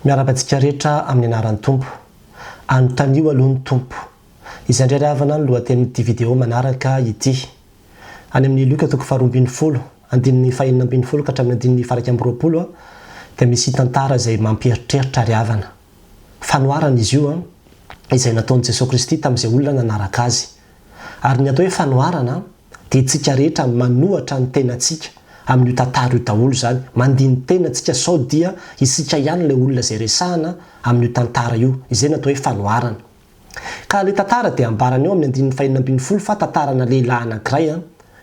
Miarahaba antsika rehetra amin'ny anaran'ny Tompo. Anontanio aloha ny Tompo. Izay indray ry havana no lohatenin'ity video manaraka ity. Any amin'ny Lioka toko faharoa ambin'ny folo, andininy fahenina ambin'ny folo ka hatramin'ny andininy faha iraika amby roapolo, dia misy tantara izay mampieritreritra ry havana. Fanoharana izy io izay nataon'i Jesoa Kristy tamin'izay olona nanaraka Azy. Ary ny atao hoe fanoharana dia tsika rehetra manohatra ny tenatsika amin'io tantara io daholo izany, mandini-tena tsika sao dia isika ihany ilay olona izay resahana amin'io tantara io, izay no atao hoe fanoharana. Ka ilay tantara dia ambarany eo amin'ny andininy fahenina ambin'ny folo fa tantarana lehilahy anankiray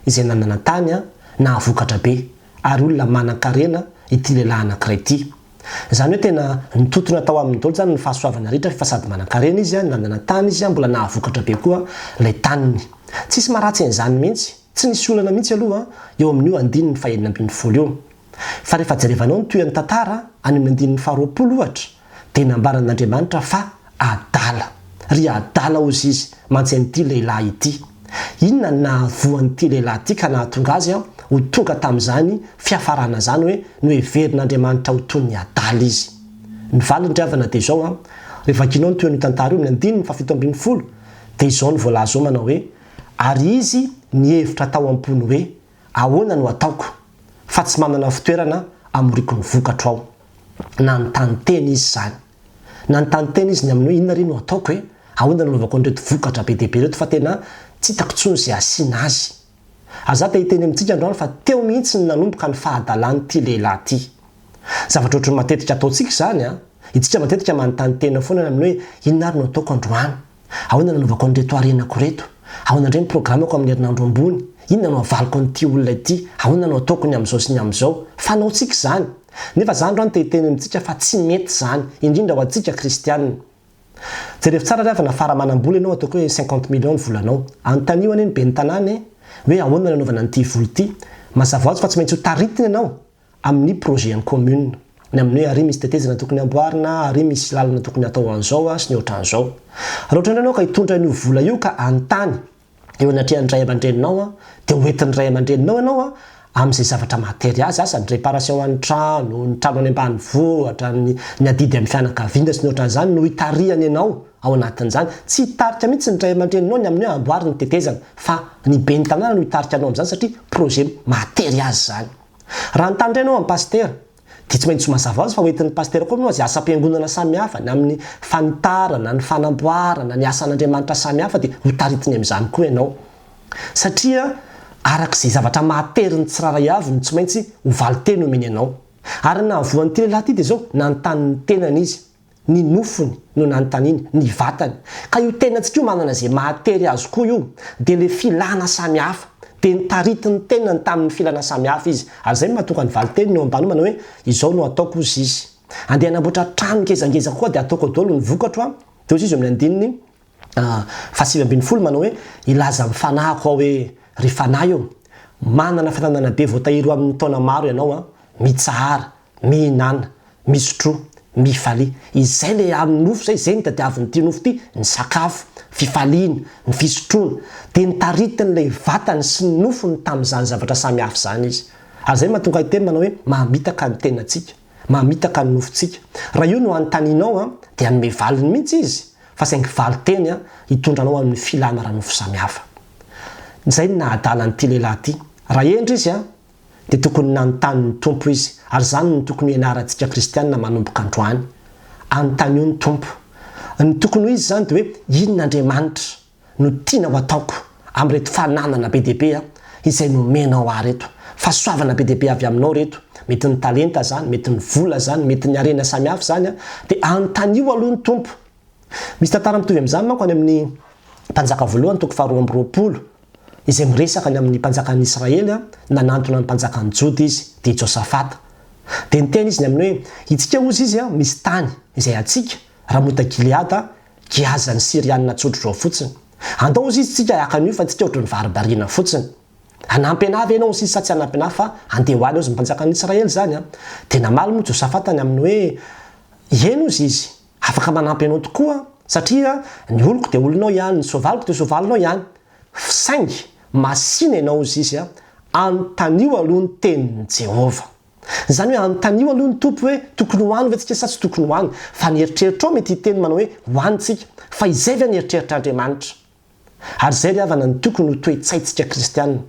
izay nanana-tany, nahavokatra be, ary olona manan-karena ity lehilahy anankiray ity. Izany hoe tena nitontona tao aminy daholo izany ny fahasoavana rehetra fa sady manankarena izy, nandana tany izy, mbola nahavokatra be koa ilay taniny. Tsisy maharatsy an'izany mihitsy. Tsy nisy olana mihitsy aloha eo amin'io andininy fahenina ambin'ny folo io. Fa rehefa jerevanao ny tohian'ny tantara, any amin'ny andininy faharoapolo ohatra, dia nambaran'Andriamanitra fa. Adala. Ry adala hozy izy, mantsy an'ity lehilahy ity. Inona no nahavoa an'ity lehilahy ity ka nahatonga azy ho tonga tamin'izany fiafarana izany hoe noheverin'Andriamanitra ho toy ny adala izy? Ny valiny ry havana dia izao, Raha vakinao ny tohin'io tantara io amin'ny andininy fahafito ambin'ny folo dia izao no voalaza ao manao hoe, Ary izy nihevitra tao am-pony hoe, Ahoana no ataoko, fa tsy manana fitoerana hamoriako ny vokatro aho? Nanontany tena izy izany. Nanontany tena izy ny aminy hoe inona re no ataoko e? Ahoana no anaovako an'ireto vokatra be dia be ireto fa tena tsy hitako intsony izay hasiana azy. Ary za te hiteny amintsika androany fa teo mihitsy no nanomboka ny fahadalan'ity lehilahy ity. Zavatra ohatry ny matetika ataontsika izany an! Itsika matetika manontany tena foana ny aminy hoe inona ary no ataoko androany? Ahoana no anaovako an'ireto harenako ireto? Ahoana indray ny programako amin'ny herinandro ambony? Inona no havaliko an'ity olona ity? Ahoana no hataoko ny amin'izao sy ny amin'izao? Fanaontsika izany. Nefa izany raha no te-hiteny amintsika fa tsy mety izany, indrindra ho antsika kristiana. Jerevo tsara ry havana fa raha manam-bola ianao ataoko hoe cinquante millions ny volanao. Anontanio anie ny ben'ny tanàna e! hoe ahoana no anaovana an'ity vola ity. Mazava ho azy fa tsy maintsy ho taritina ianao. amin'ny projet en commune, ny amin'ny hoe ary misy tetezana tokony hamboarina, ary misy lalana tokony hatao an'izao sy ny ohatran'izao. Raha ohatran'ny hoe ianao ka hitondra an'io vola io ka hanontany eo anatrehan'ny ray aman-dreninao dia ho entin'ny ray aman-dreninao ianao amin'izay zavatra mahatery azy, asa ny réparation an'ny trano, ny trano any ambanivohitra, ny ny adidy amin'ny fianakaviana sy ny ohatran'izany no hitarihany ianao ao anatin'izany. Tsy hitarika mihitsy ny ray aman-dreninao ny amin'ny hoe amboary ny tetezana fa ny ben'ny tanàna no hitarika anao amin'izany satria projet mahatery azy izany. Raha ny tany indray no amin'ny pasitera, dia tsy maintsy ho mazava ho azy fa ho entin'ny pasitera koa moa ny asam-piangonana samihafa, ny amin'ny fanitarana, ny fanamboarana, ny asan'Andriamanitra samihafa dia hotaritiny amin'izany koa ianao. Satria araka izay zavatra mahatery ny tsirairay avy no tsy maintsy ho valin-teny omeny anao. Ary ny nahavoan'ity lehilahy ity dia izao, nanontany ny tenany izy. Ny nofony no nanontaniany, ny vatany. Ka io tenantsika io manana izay mahatery azy koa io, dia ilay filana samy hafa. Dia nitarity ny tenany tamin'ny filana samy hafa izy. Ary izay no mahatonga ny valin-teniny eo am-panomana hoe, Izao no hataoko, hozy izy. Andeha hanamboatra trano ngezangeza kokoa dia hataoko daholo ny vokatro an. Dia hozy izy eo amin'ny andininy fahasivy ambin'ny folo manao hoe, Hilaza amin'ny fanahiko aho hoe, Ry fanahy ô, manana fananana be voatahiry ho amin'ny taona maro ianao an. Mitsahara, Mihinana, misotroa, mifalia. Izay ilay amin'ny nofo izay, izay no tadiavin'ity nofo ity, ny sakafo, fifaliana, ny fisotroana. Dia nitaritin'ilay vatany sy ny nofony tamin'izany zavatra samy hafa izany izy. Ary izay no mahatonga ahy hiteny manao hoe, mamitaka ny tenantsika, mamitaka ny nofontsika. Raha io no anontanianao an, dia hanome valiny mihitsy izy, fa saingy valin-teny an, hitondra anao amin'ny filana ara-nofo samy hafa. Izay no naha-adala an'ity lehilahy ity. Raha hendry izy an, dia tokony nanontany ny Tompo izy, ary izany no tokony ho ianarantsika kristiana manomboka androany. Anontanio ny Tompo. Ny tokony ho izy izany dia hoe, Inona Andriamanitra no tiana ho ataoko amin'ireto fananana be dia be izay nomenao ahy ireto? Fahasoavana be dia be avy aminao ireto, mety ny talenta izany, mety ny vola izany, mety ny harena samihafa izany, dia anontanio aloha ny Tompo. Misy tantara mitovy amin'izany manko any amin'ny Mpanjaka voalohany toko faharoa amby roapolo, izay miresaka ny amin'ny mpanjakan'ny Israely nanantona ny mpanjakan'ny Joda izy, dia i Josafata. Dia niteny izy ny amin'ny hoe, Hitsika hozy izy, misy tany, izay hatsika, Ramota-gileada, Giaza, ny Syrianina tsotra izao fotsiny. Andao hozy izy tsika haka an'io fa tsika ohatry ny varibariana fotsiny. Hanampy anà ve ianao hozy izy sa tsy hanampy anà fa handeha ho any hozy ny mpanjakan'ny Israely izany? Dia namaly moa Josafata ny amin'ny hoe, Eny hozy izy. Afaka manampy anao tokoa satria ny oloko dia olonao ihany, ny soavaliko dia soavalinao ihany, saingy masìna ianao hozy izy, anontanio aloha ny tenin'i Jehovah. Izany hoe anontanio aloha ny Tompo hoe tokony ho any ve tsika sa tsy tokony ho any, fa ny eritreritrao mety hiteny manao hoe ho any tsika, fa izay ve ny eritreritr'Andriamanitra? Ary izay ry havana no tokony ho toe-tsaintsika kristiana.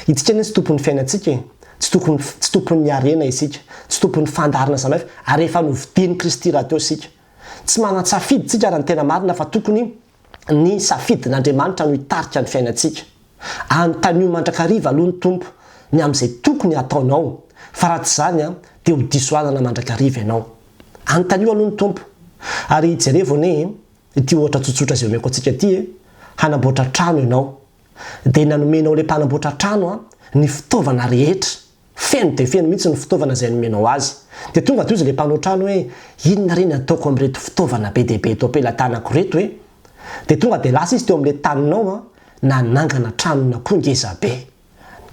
Itsika anie tsy tompon'ny fiainantsika e! Tsy tokony, tsy tompon'ny harena isika, tsy tompon'ny fandaharana zanahivy, ary efa novidian'i Kristy rahateo isika. Tsy manan-tsafidy tsika raha ny tena marina fa tokony ny safidin'Andriamanitra no hitarika ny fiainantsika. Anontanio mandrakariva aloha ny Tompo ny amin'izay tokony hataonao fa raha tsy izany dia ho diso alana mandrakariva ianao. Anontanio aloha ny Tompo ary jerevo anie e! Ity ohatra tsotsotra izay omeko antsika ity e, hanamboatra trano ianao, dia nanomenao ilay mpanamboatra trano a, ny fitaovana rehetra, feno dia feno mihitsy ny fitaovana izay nomenao azy. Dia tonga dia hozy ilay mpanao trano hoe, inona re ny ataoko amin'ireto fitaovana be dia be eto am-pelatanako ireto e? Dia tonga dia lasa izy teo amin'ilay taninao a, nanangana tranon'akoho ngeza be.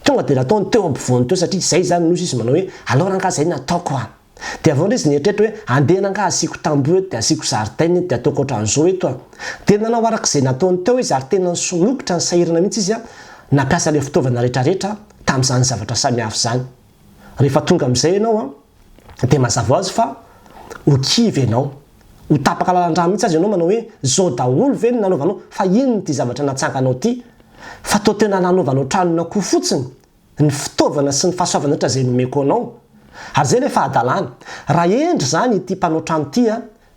Tonga dia nataony teo ampovoany teo satria izay izany no nosy izy manao hoe alors angaha izay no ataoko an! Dia avy eo indray izy nieritreritra hoe andeha angaha asiako tamboho eto dia asiako zaridaina eto dia ataoko ohatran'izao eto an! Dia nanao araka izay nataony teo izy ary tena nisomokotra ny sahirana mihitsy izy an! Nampiasa ilay fitaovana rehetrarehetra tamin'izany zavatra samihafa izany. Rehefa tonga amin'izay ianao an! Dia mazava ho azy fa ho kivy ianao. Ho tapaka lalan-drà mihitsy aza ianao manao hoe izao daholo ve no nanaovanao? Fa inona ity zavatra natsanganao ity? Fa toa tena nanovanao tranon'akoho fotsiny ny fitaovana sy ny fahasoavana rehetra izay nomeko anao. Ary izay ilay fahadalana. Raha hendry izany ity mpanao trano ity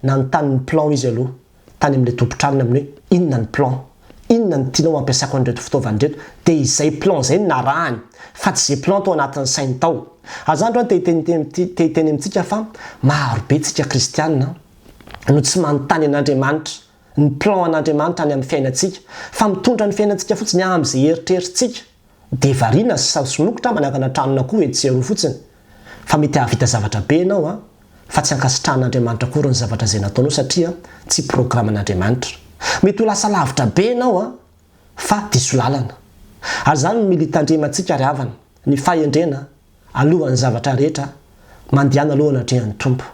Nanontany ny plan izy aloha tany amin'ilay tompon-tranony amin'ny hoe inona ny plan? Inona no tianao hampiasako an'ireto fitaovana ireto? Dia izay plan izay no narahany fa tsy izay plan tao anatin'ny sainy tao. Aza andro te hiteny amintsika fa marobe tsika kristiana no tsy manontany an'Andriamanitra ny plan an'Andriamanitra any amin'ny fiainantsika fa mitondra ny fiainantsika fotsiny amin'izay eritreritsika Dia variana sy sazy somokotra aho manangana tranon'akoho etsy sy eroa fotsiny. Fa mety hahavita zavatra be ianao an! Fa tsy ankasitrahan'Andriamanitra akory ny zavatra izay nataonao satria tsy programan'Andriamanitra. Mety ho lasa lavitra be ianao an! Fa diso lalana. Ary izany no militan-dremantsika ry havana, ny fahendrena alohan'ny zavatra rehetra, mandehana aloha anatrehan'ny Tompo.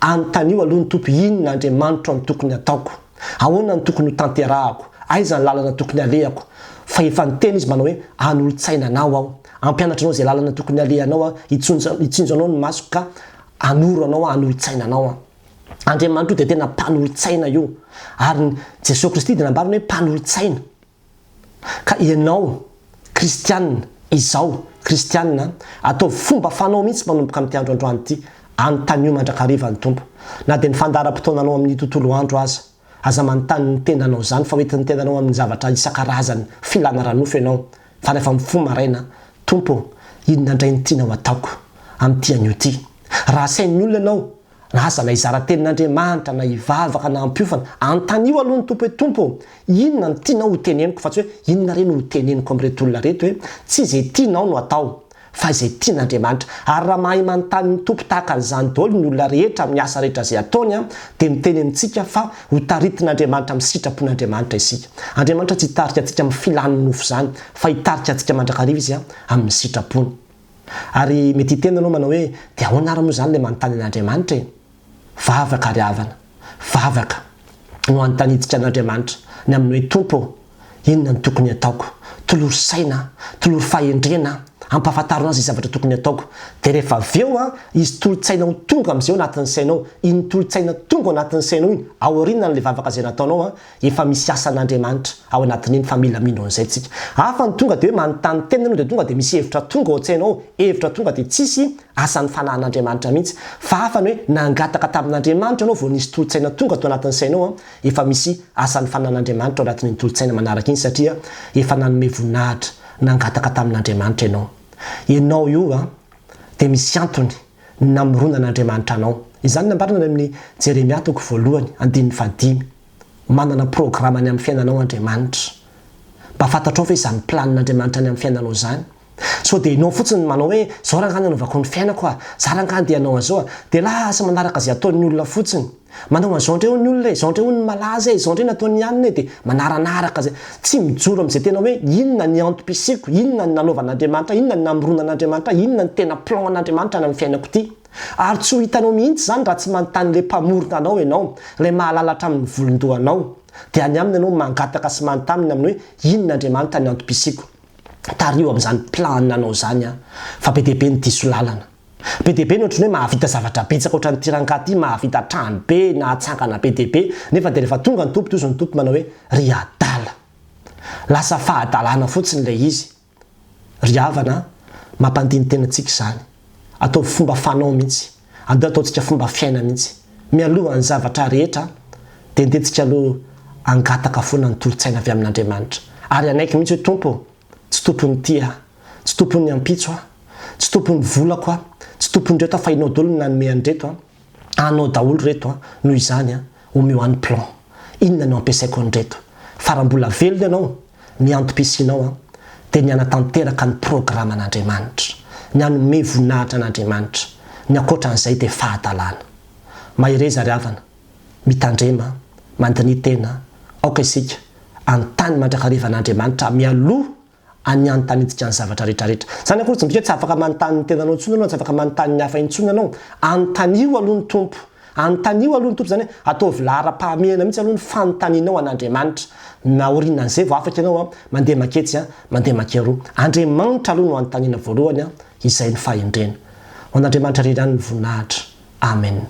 Anontanio aloha ny Tompo, Inona, Andriamanitro, no tokony hataoko? Ahoana no tokony hotanterahako? Aiza ny lalana tokony halehako? Fa efa niteny Izy manao hoe, Hanolo-tsaina anao Aho. Hampianatra anao izay lalana tokony halehanao Aho. Hitsinjo anao ny masoko ka hanoro anao Aho, hanolo-tsaina anao Aho. Andriamanitro io dia tena mpanolo-tsaina io. Ary Jesoa Kristy dia nambarany hoe mpanolo-tsaina. Ka ianao kristianina, izaho kristianina, ataovy fomba fanao mihitsy manomboka amin'ity andro androany ity, anontanio mandrakariva ny Tompo. Na dia ny fandaharam-potoananao amin'ny tontolo andro aza, aza manontany ny tenanao izany, fa hoentin'ny tenanao amin'ny zavatra isan-karazany, filana ara-nofo ianao, fa rehefa mifoha maraina, Tompo ô, inona indray no tianao ataoko amin'ity anio ity? Raha asain'ny olona ianao na aza na hizara tenin'Andriamanitra na hivavaka na hampiofana, anontanio aloha ny Tompo hoe, Tompo ô, inona no tianao ho teneniko fa tsy hoe inona re no ho teneniko amin'ireto olona ireto e. Tsy izay tianao no atao fa izay tian'Andriamanitra. Ary raha mahay manontany ny Tompo tahaka an'izany daholo ny olona rehetra amin'ny asa rehetra izay ataony dia miteny amintsika fa ho taritin'Andriamanitra amin'ny sitrapon'Andriamanitra isika. Andriamanitra tsy hitarika antsika amin'ny filan'ny nofo izany fa hitarika antsika mandrakariva Izy amin'ny sitrapony. Ary mety hiteny ianao manao hoe, dia ahoana ary moa izany ilay manontany an'Andriamanitra e? Vavaka ry havana, vavaka no anontanintsika an'Andriamanitra ny amin'ny hoe, Tompo ô, inona no tokony hataoko? Tolory saina aho, tolory fahendrena aho, ampahafantarina ahy izay zavatra tokony hataoko. Dia rehefa avy eo, hisy tolo-tsaina ho tonga amin'izay ao anatin'ny sainao. Iny tolo-tsaina tonga ao anatin'ny sainao iny, aorianan'ilay vavaka izay nataonao, Efa misy asan'Andriamanitra ao anatin'iny fa mila mino an'izay tsika. Hafa ny tonga dia hoe manontany tena ianao dia tonga dia misy hevitra tonga ao an-tsaina ao, hevitra tonga dia tsisy asan'ny fanahin'Andriamanitra mihitsy. Fa hafa ny hoe nangataka tamin'Andriamanitra ianao vao nisy tolo-tsaina tonga tao anatin'ny sainao. Efa misy asan'ny fanahin'Andriamanitra ao anatin'iny tolo-tsaina manaraka iny satria efa nanome voninahitra nangataka tamin'Andriamanitra ianao. Ianao io dia misy antony ny namoronan'Andriamanitra anao. Izany nambarany any amin'ny Jeremia toko voalohany, andininy fahadimy. Manana programa ny amin'ny fiainanao Andriamanitra. Mba fantatrao ve izany planin'Andriamanitra ny amin'ny fiainanao izany? Sao dia ianao fotsiny no manao hoe, izao rangahy no anaovako ny fiainako a! Za rangahy andeha hanao an'izao a! Dia lasa manaraka izay ataon'ny olona fotsiny. Manao an'izao indray hoy ny olona e, izao indray hoy ny malaza e, izao indray nataon'i Ianona e, dia manaranaraka izay. Tsy mijoro amin'izay tena hoe inona ny antom-pisiako, inona ny nanaovan'Andriamanitra ahy, inona ny namoronan'Andriamanitra ahy, inona ny tena plan an'Andriamanitra any amin'ny fiainako ity. Ary tsy ho hitanao mihitsy izany raha tsy manontany ilay Mpamorona anao ianao, ilay mahalala hatramin'ny volon-dohanao. Dia any Aminy ianao mangataka sy manontany ny amin'ny hoe inona Andriamanitra ny antom-pisiako. Tariho amin'izany plan anao izany aho, fa be dia be ny diso lalana. Be dia be ny ohatran'ny hoe mahavita zavatra betsaka ohatran'ity rangahy ity, mahavita trano be, nahatsangana be dia be, nefa dia rehefa tonga ny Tompo tohizo ny Tompo manao hoe, ry adala. Lasa fahadalana fotsiny ilay izy. Ry havana a! Mampandini-tena antsika izany. Ataovy fomba fanao mihitsy. Andeo ataontsika fomba fiaina mihitsy. Mialohan'ny zavatra rehetra dia andentsika aloha hangataka foana ny tolo-tsaina avy amin'Andriamanitra. Ary hanaiky mihitsy hoe, Tompo o! Tsy tompon'ny tia aho. Tsy tompon'ny ampitso aho. Tsy tompon'ny volako aho. Tsy tompon'ireto aho fa ianao daholo no nanome an'ireto an! Anao daholo ireto an! Noho izany an! Omeo ahy ny plan! Inona no hampiasaiko an'ireto? Fa raha mbola velona ianao, ny antom-pisianao an! Dia ny hanatanteraka ny programan'Andriamanitra. Ny hanome voninahitra an'Andriamanitra. Ny ankoatra an'izay dia fahadalana. Mahereza ry havana. Mitandrema, mandiniha tena, aoka isika hanontany mandrakariva an'Andriamanitra mialoha an'ny hanontaniantsika ny zavatra rehetrarehetra. Izany akory tsy midika hoe tsy afaka manontany ny tenanao intsony ianao, tsy afaka manontany ny hafa intsony ianao. Anontanio aloha ny Tompo. Anontanio aloha ny Tompo, izany hoe ataovy laharam-pahamehana mihitsy aloha ny fanontanianao an'Andriamanitra. Naorinan'izay vao afaka ianao mandeha manketsy, mandeha mankeroa. Andriamanitra aloha no anontaniana voalohany, izay no fahendrena. Ho an'Andriamanitra irery ihany ny voninahitra. Amen.